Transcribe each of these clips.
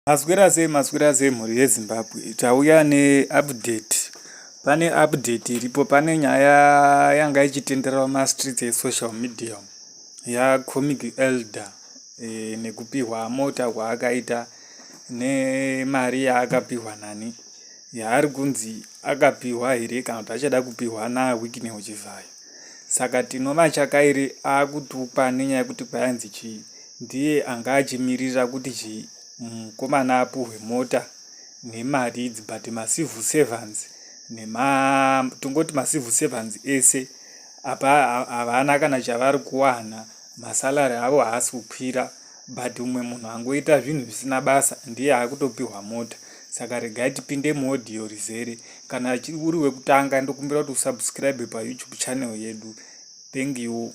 Maswera sei maswera sei mhuri yeZimbabwe tauya neupdate pane update iripo pane nyaya yanga ichitenderera mumastreets esocial media yacomic elder e, nekupihwa mota kwaakaita nemari yaakapihwa nani yaari kunzi akapihwa here kana kuti achada kupihwa nawikine uchivhayo saka tinomatyakairi akutukwa nenyaya yekuti kwayanzi chii Ndiye anga achimirira kuti chimukomana apuhwe mota nemari idzi but macivil servants nema tongoti macivil servants ese apa havana kana chavari kuwana masalary avo haasi kukwira but umwe munhu angoita zvinhu zvisina basa ndiye akutopiwa mota saka regai tipinde muaudio rizere kana uri wekutanga ndokumbira kuti usubscribe payoutube channel yedu thank you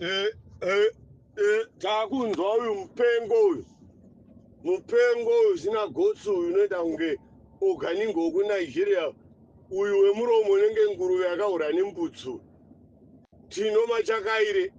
eh, eh, eh, takunzwa uyu mupengo uyu mupengo uyu zina gotsi uyu unoita kunge oganingo wekunigeria uyu wemuromo unenge nguruve yakahura nembutsu tino machakaire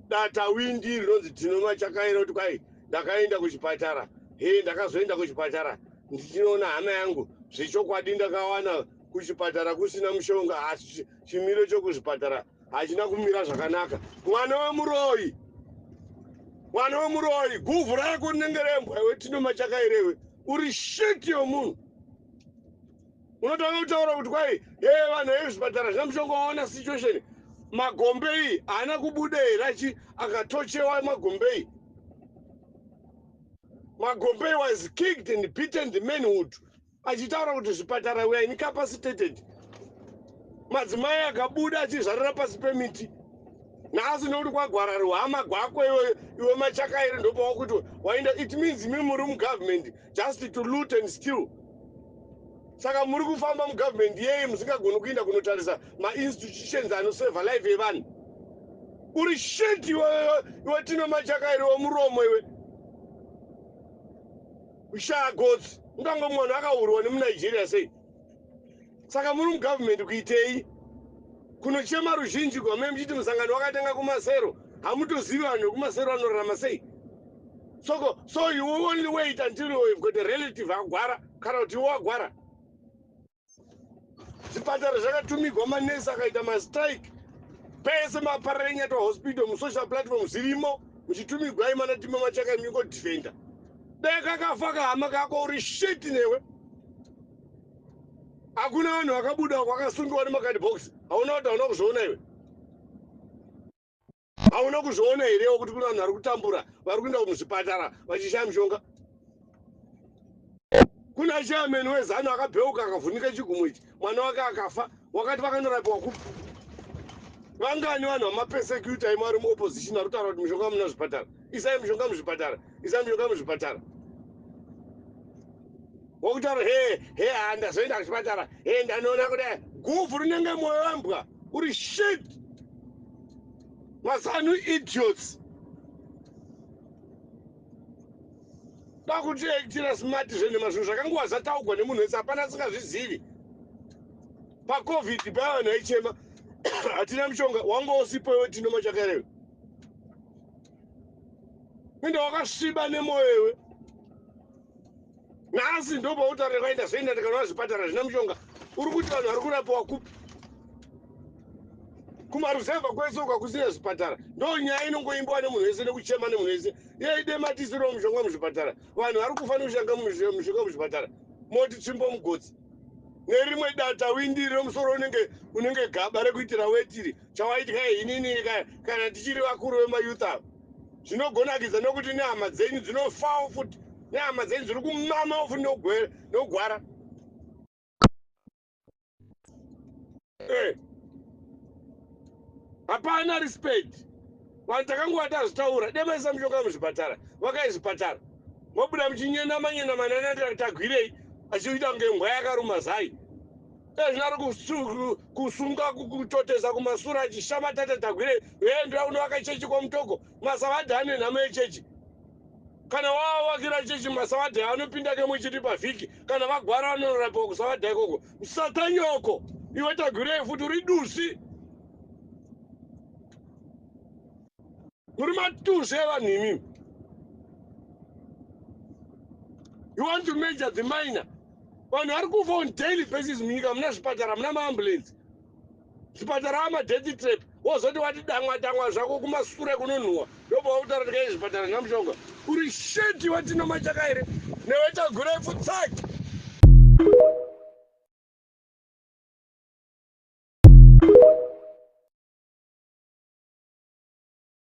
data windi rinonzi tino machakaire kuti kwai ndakaenda kuchipatara he ndakazoenda kuchipatara ndichinoona hana yangu zvechokwadi ndakawana kuchipatara kusina mushonga asi chimiro chokuzvipatara hachina kumira zvakanaka mwana wemuroyi mwana wemuroyi guvhu rako rinenge rembwa iwe tino machakairewe uri shit yomunhu unotanga kutaura kuti kwai hee vanhu vezvipatara zvina mushonga waona situation magombe iyi haana kubuda here achi akatochewa magombe iyi magombe was kicked and beaten the manhood Achitaura kuti zvipatara were incapacitated, madzimai akabuda achizvarira pasi pemiti nhasi nekuti kwagwara ruhama gwako iwe, iwe machakairi ndopawakuti waenda. It means imi muri mugovernment just to loot and steal. Saka muri kufamba mugovernment yei musingagoni kuinda kunotarisa mainstitutions anoseva life yevanhu? Uri shit iwe, iwe tino machakairi wemuromo iwe. kushaya gotsi ungango mwana akaurwa nemunigeria sei saka muri mugovernment kuitei kunochema ruzhinji gwamai muchiti musangano wakatanga kumasero hamutozivi vanhu vekumasero vanorarama sei soko so you only wait until you've got a relative agwara kana kuti iwo agwara zvipatara zvakatumigwa manesi akaita mastrike pese maparara enyata hospital musocial platform zvirimo muchitumigwai mana tima machaka miko defender dai kakafa kahama kako uri shit newe hakuna vanhu vakabuda kwakasungiwa nemakadibhox hauna kuti hauna kuzviona iwe Hauna kuzviona herewo kuti kune vanhu vari kutambura vari kuenda muzvipatara vachishaya mushonga? Kuna chairman wezanu akabheuka akavhunika chigumo ichi mwana wake akafa wakati vakanorapiwa kupi? Vangani vanhu vamapesecuta imo vari muopposition vari kutaura kuti mushonga muna zvipatara? Isai mushonga muzvipatara, isai mushonga muzvipatara wakutaura he he handazoenda kuchipatara he ndanoona kudai guvhu rinenge moyo wembwa uri shit mazanu idiots dakuti aitira smart zvenhema zvinhu zvakanguva zvataugwa nemunhu wese hapana asingazvizivi pacovid paya vanhu vaichema hatina mushonga wanga usipo iwe tinoma chakarewe ende wakasviba nemoyo iwe nhasi ndopautarira vaita zvoenda ndikanova zvipatara zvina mushonga uri kuti vanhu vari kurapiwa kupi kumaruzevha kwese uka kusina zvipatara ndo nyaya inongoimbiwa nemunhu wese nekuchema nemunhu wese yeide matisiro mushonga muzvipatara vanhu vari kufa nekushanga mushonga muzvipatara moti tsvimbo mugotsi nerimwe data windi remusoro unenge unenge gaba rekuitira wetiri chawaitya inini kana tichiri vakuru vemayouth ava zvinogonakidza nokuti nehama dzenyu dzinofawo futi nehama dzenyu dziri kumamawo futi nokugwara eh. hapana respect vanhu takangova tazvitaura demaisa mushonga muzvipatara vakai zvipatara mobuda muchinyenamanyena mananatagwirei achiita kunge mbwa yakaruma zai Ezvi ari kusunga kutotesa kumasura achishama tata tagwire veendura unovaka chechi kwamutoko masavadhi ane nhamo yechechi kana wavakira chechi masavadhi anopinda kemwe chiri pavhiki kana vagwara vanonorapiwa kusavadha ikoko msatanyoko iwe tagwirei futi uri dusi muri matusi evanhu imimi you want to measure the minor vanhu vari kufa on daily basis munyika muna zvipatara muna maambulensi zvipatara amadeath trap wozoti wati damwa damwa zvako kumasure kunonhuwa ndobva wakutaura tikai zvipatara zvina mushonga uri sheti watino machaka here newe tagura ifu tsaki